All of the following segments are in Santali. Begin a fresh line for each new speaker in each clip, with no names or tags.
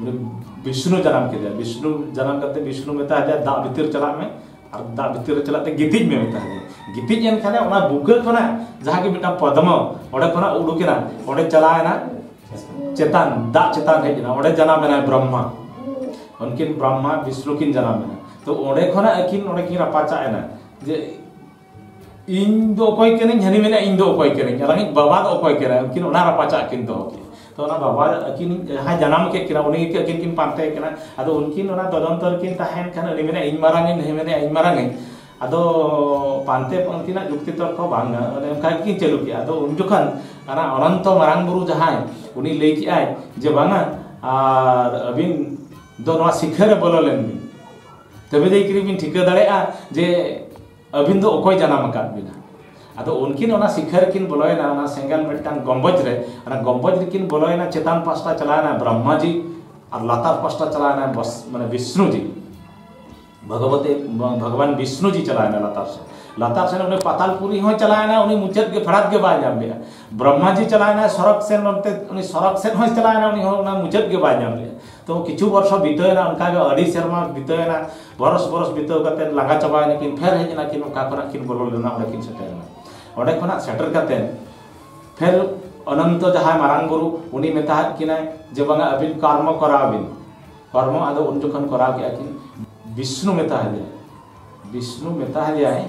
ᱩᱱᱤ ᱵᱤᱥᱱᱩ ᱡᱟᱱᱟᱢ ᱠᱮᱫᱮᱭᱟ ᱵᱤᱥᱱᱩ ᱡᱟᱱᱟᱢ ᱠᱟᱛᱮ ᱵᱤᱥᱱᱩ ᱢᱮᱛᱟ ᱫᱮᱭᱟ ᱫᱟᱜ ᱵᱷᱤᱛᱤᱨ ᱪᱟᱞᱟᱜ ᱢᱮ ᱟᱨ ᱫᱟᱜ ᱵᱷᱤᱛᱤᱨ ᱨᱮ ᱪᱟᱞᱟᱜ ᱛᱮ ᱜᱤᱛᱤᱡ ᱢᱮ ᱢᱮᱛᱟ ᱫᱮᱭᱟ ᱜᱤᱛᱤᱡ ᱮᱱ ᱠᱷᱟᱱᱮ ᱚᱱᱟ ᱵᱩᱠᱟᱹ ᱠᱷᱚᱱᱟᱜ ᱡᱟᱦᱟᱸ ᱜᱮ ᱢᱤᱫᱴᱟᱝ ᱯᱚᱫᱢᱚ ᱚᱸᱰᱮ ᱠᱷᱚᱱᱟᱜ ᱩᱰᱩᱠᱮᱱᱟ ᱚᱸᱰᱮ ᱪᱟᱞᱟᱣᱮᱱᱟ ᱪᱮᱛᱟᱱ ᱫᱟᱜ ᱪᱮᱛᱟᱱ ᱦᱮᱡ ᱮᱱᱟ ᱚᱸᱰᱮ ᱡᱟᱱᱟᱢ ᱮᱱᱟᱭ ᱵᱨᱚᱦᱢᱟ ᱩᱱᱠᱤᱱ ᱵᱨᱚᱦᱢᱟ ᱵᱤᱥᱱᱩ ᱠᱤᱱ ᱡᱟᱱᱟᱢ ᱮᱱᱟ ᱛᱚ ᱚᱸᱰᱮ ᱠᱷᱚᱱᱟᱜ ᱟᱹᱠᱤᱱ ᱚᱸᱰᱮ ᱠᱤᱱ ᱨᱟᱯᱟᱪᱟᱜ ᱮᱱᱟ ᱡᱮ ᱤᱧ ᱫᱚ ᱚᱠᱚᱭ ᱠᱟᱹᱱᱟᱹᱧ ᱦᱟᱹᱱᱤ ᱢᱮᱱᱟ ᱤᱧ ᱫᱚ ᱚᱠᱚᱭ ᱠᱟᱹᱱᱟᱹᱧ ᱟᱨ ᱤᱧ ᱵᱟᱵᱟ ᱫᱚ ᱚᱠᱚᱭ ᱠᱟᱱᱟᱭ ᱩᱱᱠᱤᱱ ᱚᱱᱟ ᱨᱟᱯᱟᱪᱟᱜ ᱠᱤᱱ ᱫᱚᱦᱚ ᱠᱮᱫᱟ ᱛᱚ ᱚᱱᱟ ᱵᱟᱵᱟ ᱟᱹᱠᱤᱱ ᱡᱟᱦᱟᱸᱭ ᱡᱟᱱᱟᱢ ᱠᱮᱫ ᱠᱤᱱᱟ ᱩᱱᱤ ᱜᱮ ᱟᱹᱠᱤᱱ ᱠᱤᱱ ᱯᱟᱱᱛᱮ ᱠᱟᱱᱟ ᱟᱫᱚ ᱩᱱᱠᱤᱱ ᱚᱱᱟ ᱛᱚᱫᱚᱱᱛᱚ ᱨᱮᱠᱤᱱ ᱛᱟᱦᱮᱱ ᱠᱷᱟᱱ ᱩᱱᱤ ᱢᱮᱱᱟ ᱤᱧ ᱢᱟᱨᱟᱝ ᱤᱧ ᱱᱩᱭ ᱢᱮᱱᱟ ᱤᱧ ᱢᱟᱨᱟᱝ ᱤᱧ ᱟᱫᱚ ᱯᱟᱱᱛᱮ ᱩᱱᱠᱤᱱᱟᱜ ᱡᱩᱠᱛᱤ ᱛᱚᱨᱠᱚ ᱵᱟᱝ ᱜᱟᱱᱚᱜᱼᱟ ᱚᱱᱮ ᱚᱱᱠᱟ ᱜᱮᱠᱤᱱ ᱪᱟᱹᱞᱩ ᱠᱮᱫᱟ ᱟᱫᱚ ᱩᱱ ᱡᱚᱠᱷᱚᱱ ᱚᱱᱟ ᱚᱱᱚᱱᱛᱚ ᱢᱟᱨᱟᱝ ᱵᱩᱨᱩ ᱡᱟᱦᱟᱸᱭ ᱩᱱᱤ ᱞᱟᱹᱭ ᱠᱮᱫᱟᱭ ᱡᱮ ᱵᱟᱝᱟ ᱟᱨ ᱟᱹᱵᱤᱱ ᱫᱚ ᱱᱚᱣᱟ ᱥᱤᱠᱷᱟᱹ ᱨᱮ ᱵᱚᱞᱚ ᱞᱮᱱ ᱵᱤᱱ ᱛᱚᱵᱮ ᱫᱚ ᱠᱤᱨᱤᱧ ᱵᱤᱱ ᱴᱷᱤᱠᱟᱹ ᱫᱟᱲᱮᱭᱟᱜᱼᱟ ᱡᱮ ᱟᱹᱵᱤᱱ ᱫᱚ ᱚᱠᱚᱭ ᱡᱟᱱᱟᱢ ᱟᱠᱟᱫ ᱵᱤᱱᱟ ᱟᱫᱚ ᱩᱱᱠᱤᱱ ᱚᱱᱟ ᱥᱤᱠᱷᱟᱹ ᱨᱮᱠᱤᱱ ᱵᱚᱞᱚᱭᱮᱱᱟ ᱚᱱᱟ ᱥᱮᱸᱜᱮᱞ ᱢᱤᱫᱴᱟᱝ ᱜᱚᱢᱵᱚᱡᱽ ᱨᱮ ᱚᱱᱟ ᱜᱚᱢᱵᱚᱡᱽ ᱨᱮᱠᱤᱱ ᱵᱚᱞᱚᱭᱮᱱᱟ ᱪᱮᱛᱟᱱ ᱯᱟᱥᱴᱟ ᱪᱟᱞᱟᱣᱮᱱᱟ ᱵᱨᱚᱦᱢᱟᱡᱤ ᱟᱨ ᱞᱟᱛᱟᱨ ᱯᱟᱥᱴᱟ ᱪᱟᱞᱟᱣᱮᱱᱟ ᱵᱚᱥ ᱢᱟᱱᱮ ᱵᱤᱥᱱᱩᱡᱤ ᱵᱷᱚᱜᱚᱵᱚᱛᱮ ᱵᱷᱚᱜᱚᱵᱟᱱ ᱵᱤᱥᱱᱩᱡᱤ ᱪᱟᱞᱟᱣᱮᱱᱟ ᱞᱟᱛᱟᱨ ᱥᱮᱫ ᱞᱟᱛᱟᱨ ᱥᱮᱱ ᱩᱱᱤ ᱯᱟᱛᱟᱞᱯᱩᱨᱤ ᱦᱚᱸ ᱪᱟᱞᱟᱣᱮᱱᱟ ᱩᱱᱤ ᱢᱩᱪᱟᱹᱫ ᱜᱮ ᱯᱷᱮᱰᱟᱛ ᱜᱮ ᱵᱟᱭ ᱧᱟᱢ ᱞᱮᱫᱟ ᱵᱨᱚᱦᱢᱟᱡᱤ ᱪᱟᱞᱟᱣᱮᱱᱟ ᱥᱚᱨᱚᱠ ᱥᱮᱱ ᱱᱚᱛᱮ ᱩᱱᱤ ᱥᱚᱨᱚᱠ ᱥᱮᱱ ᱦᱚᱸᱭ ᱪᱟᱞᱟᱣᱮᱱᱟ ᱩᱱᱤ ᱦᱚᱸ ᱚᱱᱟ ᱢᱩᱪᱟᱹᱫ ᱜᱮ ᱵᱟᱭ ᱧᱟᱢ ᱞᱮᱫᱟ ᱛᱚ ᱠᱤᱪᱷᱩ ᱵᱚᱨᱥᱚ ᱵᱤᱛᱟᱹᱣᱮᱱᱟ ᱚᱱᱠᱟ ᱜᱮ ᱟᱹᱰᱤ ᱥᱮᱨᱢᱟ ᱵᱤᱛᱟᱹᱣᱮᱱᱟ ᱵᱚᱨᱚᱥ ᱵᱚᱨᱚᱥ ᱵᱤᱛᱟᱹᱣ ᱠᱟᱛᱮ ᱞᱟᱸᱜᱟ ᱪᱟᱵᱟᱭᱮᱱᱟ ᱠᱤᱱ ᱯᱷᱮᱨ ᱦᱮᱡ ᱮᱱᱟ ᱠᱤᱱ ᱚᱠᱟ ᱠᱷᱚᱱᱟᱜ ᱠᱤᱱ ᱵᱚᱞᱚ ᱞᱮᱱᱟ ᱚᱸᱰᱮ ᱠᱤᱱ ᱥᱮᱴᱮᱨᱮᱱᱟ ᱚᱸᱰᱮ ᱠᱷᱚᱱᱟᱜ ᱥᱮᱴᱮᱨ ᱠᱟᱛᱮ ᱯᱷᱮᱨ ᱚᱱᱚᱱᱛᱚ ᱡᱟᱦᱟᱸᱭ ᱢᱟᱨᱟᱝ ᱵᱩᱨᱩ ᱩᱱᱤ ᱢᱮᱛᱟᱦᱟᱫ ᱠᱤᱱᱟᱭ ᱡᱮ ᱵᱟᱝᱟ ᱟᱹᱵᱤᱱ ᱠᱚᱨᱢᱚ ᱠᱚᱨᱟᱣ ᱵᱤᱱ ᱠᱚᱨᱢᱚ ᱟᱫᱚ ᱩᱱ ᱡᱚᱠᱷᱚᱱ ᱠᱚᱨᱟᱣ ᱠᱮᱜᱼᱟ ᱠᱤᱱ ᱵᱤᱥᱱᱩ ᱢᱮᱛᱟᱦᱟᱫᱮᱭᱟ ᱵᱤᱥᱱᱩ ᱢᱮᱛᱟᱦᱟᱫᱮᱭᱟᱭ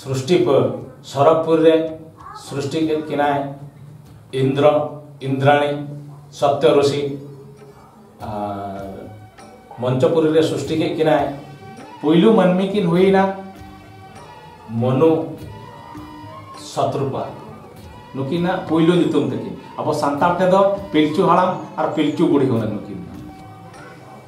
ᱥᱨᱩᱥᱴᱤ ᱠᱚ ᱥᱚᱨᱚᱜᱽᱯᱩᱨ ᱨᱮ ᱥᱨᱩᱥᱴᱤ ᱠᱮᱫ ᱠᱤᱱᱟᱭ ᱤᱱᱫᱨᱚ ᱤᱱᱫᱨᱟᱬᱤ ᱥᱚᱛᱭᱚ ᱨᱩᱥᱤ ᱟᱨ ᱢᱚᱧᱪᱚᱯᱩᱨᱤ ᱨᱮ ᱥᱨᱩᱥᱴᱤ ᱠᱮᱫ ᱠᱤᱱᱟᱭ ᱯᱩᱭᱞᱩ ᱢᱟᱹᱱᱢᱤ ᱠᱤᱱ ᱦᱩᱭᱱᱟ ᱢᱚᱱᱩ ᱥᱚᱛᱨᱩᱯᱟ ᱱᱩᱠᱤᱱᱟᱜ ᱯᱩᱭᱞᱩ ᱧᱩᱛᱩᱢ ᱛᱟᱹᱠᱤᱱ ᱟᱵᱚ ᱥᱟᱱᱛᱟᱲ ᱛᱮᱫᱚ ᱯᱤᱞᱪᱩ ᱦᱟᱲᱟᱢ ᱟᱨ ᱯᱤᱞᱪᱩ ᱵᱩᱲᱦᱤ ᱦᱩᱱᱟᱹᱝ ᱱᱩᱠᱤᱱ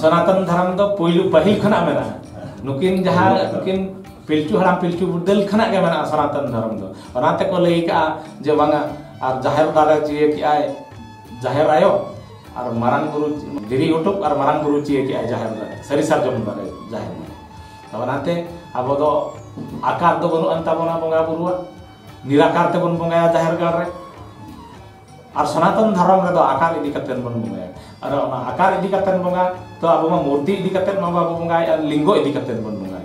ᱥᱚᱱᱟᱛᱚᱱ ᱫᱷᱚᱨᱚᱢ ᱫᱚ ᱯᱩᱭᱞᱩ ᱯᱟᱹᱦᱤᱞ ᱠᱷᱚᱱᱟᱜ ᱢᱮᱱᱟᱜᱼᱟ ᱱᱩᱠᱤᱱ ᱡᱟᱦᱟᱸ ᱱᱩᱠᱤᱱ ᱯᱤᱞᱪᱩ ᱦᱟᱲᱟᱢ ᱯᱤᱞᱪᱩ ᱵᱩᱰᱟᱹᱞ ᱠᱷᱚᱱᱟᱜ ᱜᱮ ᱢᱮᱱᱟᱜᱼᱟ ᱥᱚᱱᱟᱛᱚᱱ ᱫᱷᱚᱨᱚᱢ ᱫᱚ ᱚᱱᱟ ᱛᱮᱠᱚ ᱞᱟᱹᱭ ᱠᱟᱜᱼᱟ ᱡᱮ ᱵᱟᱝᱟ ᱟᱨ ᱡᱟᱦᱮᱨ ᱫᱟᱨᱮ ᱪᱤᱭᱟᱹ ᱠᱮᱜᱼᱟᱭ ᱡᱟᱦᱮᱨ ᱟᱭᱳ ᱟᱨ ᱢᱟᱨᱟᱝ ᱵᱩᱨᱩ ᱫᱷᱤᱨᱤ ᱩᱴᱩᱵ ᱟᱨ ᱢᱟᱨᱟᱝ ᱵᱩᱨᱩ ᱪᱤᱭᱟᱹ ᱠᱮᱜᱼᱟᱭ ᱡᱟᱦᱮᱨ ᱫᱟᱨᱮ ᱥᱟᱹᱨᱤ ᱥᱟᱨᱡᱚᱢ ᱫᱟᱨᱮ ᱡᱟᱦᱮᱨ ᱫᱟᱨᱮ ᱛᱚ ᱚᱱᱟᱛᱮ ᱟᱵᱚ ᱫᱚ ᱟᱠᱟᱨ ᱫᱚ ᱵᱟᱹᱱᱩᱜ ᱟᱱ ᱛᱟᱵᱚᱱᱟ ᱵᱚᱸᱜᱟ ᱵᱩᱨᱩᱣᱟᱜ ᱱᱤᱨᱟᱠᱟᱨ ᱛᱮᱵᱚᱱ ᱵᱚᱸᱜᱟᱭᱟ ᱡᱟᱦᱮᱨ ᱜᱟᱲ ᱨᱮ ᱟᱨ ᱥᱚᱱᱟᱛᱚᱱ ᱫᱷᱚᱨᱚᱢ ᱨᱮᱫᱚ ᱟᱠᱟᱨ ᱤᱫᱤ ᱠᱟᱛᱮ ᱵᱚᱱ ᱵᱚᱸᱜᱟᱭᱟ ᱟᱨ ᱚᱱᱟ ᱟᱠᱟᱨ ᱤᱫᱤ ᱠᱟᱛᱮ ᱵᱚᱸᱜᱟ ᱛᱚ ᱟᱵᱚ ᱢᱟ ᱢᱩᱨᱛᱤ ᱤᱫᱤ ᱠᱟᱛᱮ ᱢᱟ ᱵᱟᱵᱚ ᱵᱚᱸᱜᱟᱭ ᱟᱨ ᱞᱤᱝᱜᱚ ᱤᱫᱤ ᱠᱟᱛᱮ ᱵᱚᱱ ᱵᱚᱸᱜᱟᱭ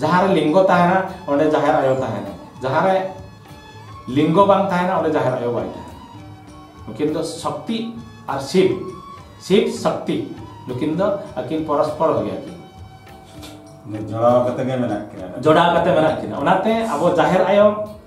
ᱡᱟᱦᱟᱸ ᱨᱮ ᱞᱤᱝᱜᱚ ᱛᱟᱦᱮᱱᱟ ᱚᱸᱰᱮ ᱡᱟᱦᱮᱨ ᱟᱭᱳ ᱛᱟᱦᱮᱱᱟ ᱡᱟᱦᱟᱸ ᱨᱮ ᱞᱤᱝᱜᱚ ᱵᱟᱝ ᱛᱟᱦᱮᱱᱟ ᱚᱸᱰᱮ ᱡᱟᱦᱮᱨ ᱟᱭᱳ ᱵᱟᱭ ᱛᱟᱦᱮᱱᱟ ᱱᱩᱠᱤᱱ ᱫᱚ ᱥᱚᱠᱛᱤ ᱟᱨ ᱥᱤᱵ ᱥᱤᱵ ᱥᱚᱠᱛᱤ ᱱᱩᱠᱤᱱ ᱫᱚ ᱟᱹᱠᱤᱱ ᱯᱚᱨᱚᱥᱯᱚᱨ ᱜᱮᱭᱟ ᱠᱤᱱ ᱡᱚᱲᱟᱣ ᱠᱟᱛᱮ ᱜᱮ ᱢᱮᱱᱟᱜ ᱠᱤᱱᱟ ᱡᱚᱲᱟᱣ ᱠᱟᱛᱮ ᱢᱮᱱᱟᱜ ᱠᱤᱱᱟ ᱚᱱᱟᱛᱮ ᱟᱵᱚ ᱡᱟᱦᱮᱨ ᱟᱭᱳ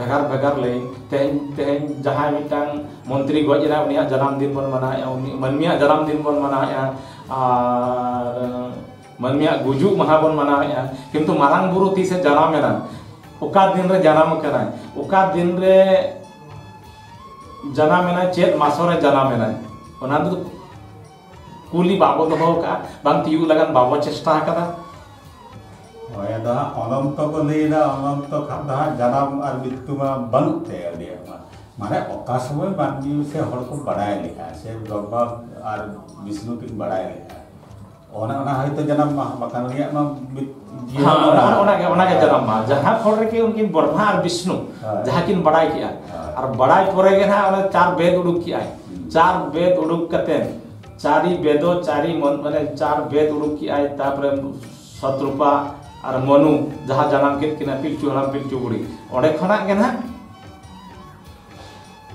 ᱵᱷᱮᱜᱟᱨ ᱵᱷᱮᱜᱟᱨ ᱞᱟᱹᱭ ᱛᱮᱦᱮᱧ ᱛᱮᱦᱮᱧ ᱡᱟᱦᱟᱸᱭ ᱢᱤᱫᱴᱟᱝ ᱢᱚᱱᱛᱨᱤ ᱜᱚᱡ ᱮᱱᱟ ᱩᱱᱤᱭᱟᱜ ᱡᱟᱱᱟᱢ ᱫᱤᱱ ᱵᱚᱱ ᱢᱟᱱᱟᱣᱮᱫᱼᱟ ᱩᱱᱤ ᱢᱟᱹᱱᱢᱤᱭᱟᱜ ᱡᱟᱱᱟᱢ ᱫᱤᱱ ᱵᱚᱱ ᱢᱟᱱᱟᱣᱮᱫᱼᱟ ᱟᱨ ᱢᱟᱹᱱᱢᱤᱭᱟᱜ ᱜᱩᱡᱩᱜ ᱢᱟᱦᱟ ᱵᱚᱱ ᱢᱟᱱᱟᱣᱮᱫᱼᱟ ᱠᱤᱱᱛᱩ ᱢᱟᱨᱟᱝ ᱵᱩᱨᱩ ᱛᱤᱥᱮ ᱡᱟᱱᱟᱢᱮᱱᱟ ᱚᱠᱟ ᱫᱤᱱ ᱨᱮ ᱡᱟᱱᱟᱢ ᱟᱠᱟᱱᱟᱭ ᱚᱠᱟ ᱫᱤᱱ ᱨᱮ ᱡᱟᱱᱟᱢᱮᱱᱟᱭ ᱪᱮᱫ ᱢᱟᱥᱚᱨᱮ ᱡᱟᱱᱟᱢᱮᱱᱟᱭ ᱚᱱᱟ ᱫᱚ ᱠᱩᱞᱤ ᱵᱟᱵᱚ ᱫᱚᱦᱚ ᱟᱠᱟᱫᱼᱟ ᱵᱟᱝ ᱛᱤᱭᱩᱜ ᱞᱟᱜᱟᱱ ᱵᱟᱵᱚ ᱪᱮᱥᱴᱟ ᱟᱠᱟᱫᱟ
ᱦᱳᱭ ᱟᱫᱚ ᱦᱟᱸᱜ ᱚᱱᱚᱱᱛᱚ ᱠᱚ ᱞᱟᱹᱭᱫᱟ ᱚᱱᱚᱱᱛᱚ ᱠᱷᱟᱱ ᱫᱚ ᱦᱟᱸᱜ ᱡᱟᱱᱟᱢ ᱟᱨ ᱢᱨᱤᱛᱭᱩ ᱢᱟ ᱵᱟᱹᱱᱩᱜ ᱛᱮ ᱟᱹᱰᱤᱭᱟᱜ ᱢᱟ ᱢᱟᱱᱮ ᱚᱠᱟ ᱥᱚᱢᱚᱭ ᱢᱟᱹᱱᱢᱤ ᱥᱮ ᱦᱚᱲ ᱠᱚ ᱵᱟᱲᱟᱭ ᱞᱮᱠᱟ ᱥᱮ ᱵᱨᱚᱦᱢᱟ ᱟᱨ ᱵᱤᱥᱱᱩ ᱠᱤᱱ ᱵᱟᱲᱟᱭ ᱞᱮᱠᱟ ᱚᱱᱮ ᱚᱱᱟ ᱦᱚᱭᱛᱳ ᱡᱟᱱᱟᱢ ᱢᱟ ᱵᱟᱠᱷᱟᱱ ᱩᱱᱤᱭᱟᱜ ᱢᱟ
ᱡᱟᱦᱟᱸ ᱯᱷᱚᱲ ᱨᱮᱜᱮ ᱩᱱᱠᱤᱱ ᱵᱨᱚᱦᱢᱟ ᱟᱨ ᱵᱤᱥᱱᱩ ᱡᱟᱦᱟᱸ ᱠᱤᱱ ᱵᱟᱲᱟᱭ ᱠᱮᱜᱼᱟ ᱟᱨ ᱵᱟᱲᱟᱭ ᱯᱚᱨᱮ ᱜᱮ ᱱᱟᱦᱟᱜ ᱚᱱᱟ ᱪᱟᱨ ᱵᱮᱫ ᱩᱰᱩᱠ ᱠᱮᱜᱼᱟᱭ ᱪᱟᱨ ᱵᱮᱫ ᱩᱰᱩᱠ ᱠᱟᱛᱮ ᱪᱟᱨᱤ ᱵᱮᱫᱚ ᱪᱟᱨᱤ ᱢᱚᱱ ᱢᱟᱱᱮ ᱪᱟᱨ ᱵᱮᱫ ᱩᱰᱩᱠ ᱠᱮᱜᱼᱟᱭ ᱛᱟᱯᱚᱨᱮ ᱥᱚᱛᱨᱩᱯᱟ ᱟᱨ ᱢᱚᱱᱩ ᱡᱟᱦᱟᱸ ᱡᱟᱱᱟᱢ ᱠᱮᱫ ᱠᱤᱱᱟ ᱯᱤᱞᱪᱩ ᱦᱟᱲᱟᱢ ᱯᱤᱞᱪᱩ ᱵᱩᱲᱦᱤ ᱚᱸᱰᱮ ᱠᱷᱚᱱᱟᱜ ᱜᱮ ᱱᱟᱦᱟᱜ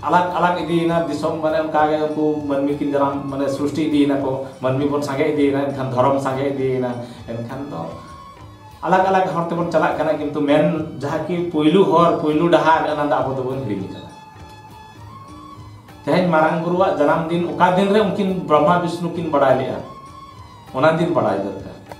ᱟᱞᱟᱜᱽ ᱟᱞᱟᱜᱽ ᱤᱫᱤᱭᱮᱱᱟ ᱫᱤᱥᱚᱢ ᱢᱟᱱᱮ ᱚᱱᱠᱟᱜᱮ ᱩᱱᱠᱩ ᱢᱟᱹᱱᱢᱤ ᱠᱤᱱ ᱡᱟᱱᱟᱢ ᱢᱟᱱᱮ ᱥᱨᱤᱥᱴᱤ ᱤᱫᱤᱭᱮᱱᱟᱠᱚ ᱢᱟᱹᱱᱢᱤ ᱵᱚᱱ ᱥᱟᱸᱜᱮ ᱤᱫᱤᱭᱮᱱᱟ ᱮᱱᱠᱷᱟᱱ ᱫᱷᱚᱨᱚᱢ ᱥᱟᱸᱜᱮ ᱤᱫᱤᱭᱮᱱᱟ ᱮᱱᱠᱷᱟᱱ ᱫᱚ ᱟᱞᱟᱜᱽ ᱟᱞᱟᱜᱽ ᱦᱚᱨ ᱛᱮᱵᱚᱱ ᱪᱟᱞᱟᱜ ᱠᱟᱱᱟ ᱠᱤᱱᱛᱩ ᱢᱮᱱ ᱡᱟᱦᱟᱸ ᱠᱤ ᱯᱩᱭᱞᱩ ᱦᱚᱨ ᱯᱩᱭᱞᱩ ᱰᱟᱦᱟᱨ ᱚᱱᱟ ᱫᱚ ᱟᱵᱚ ᱫᱚᱵᱚᱱ ᱦᱤᱲᱤᱧ ᱠᱟᱫᱟ ᱛᱮᱦᱮᱧ ᱢᱟᱨᱟᱝ ᱵᱩᱨᱩᱣᱟᱜ ᱡᱟᱱᱟᱢ ᱫᱤᱱ ᱚᱠᱟ ᱫᱤᱱ ᱨᱮ ᱩᱱᱠᱤᱱ ᱵᱨᱚᱦᱢᱟ ᱵᱤᱥᱱᱩ ᱠᱤᱱ ᱵᱟᱲᱟᱭ ᱞᱮᱜᱼᱟ ᱚᱱᱟ ᱫᱤᱱ ᱵᱟᱲᱟᱭ ᱫᱚᱨᱠᱟᱨ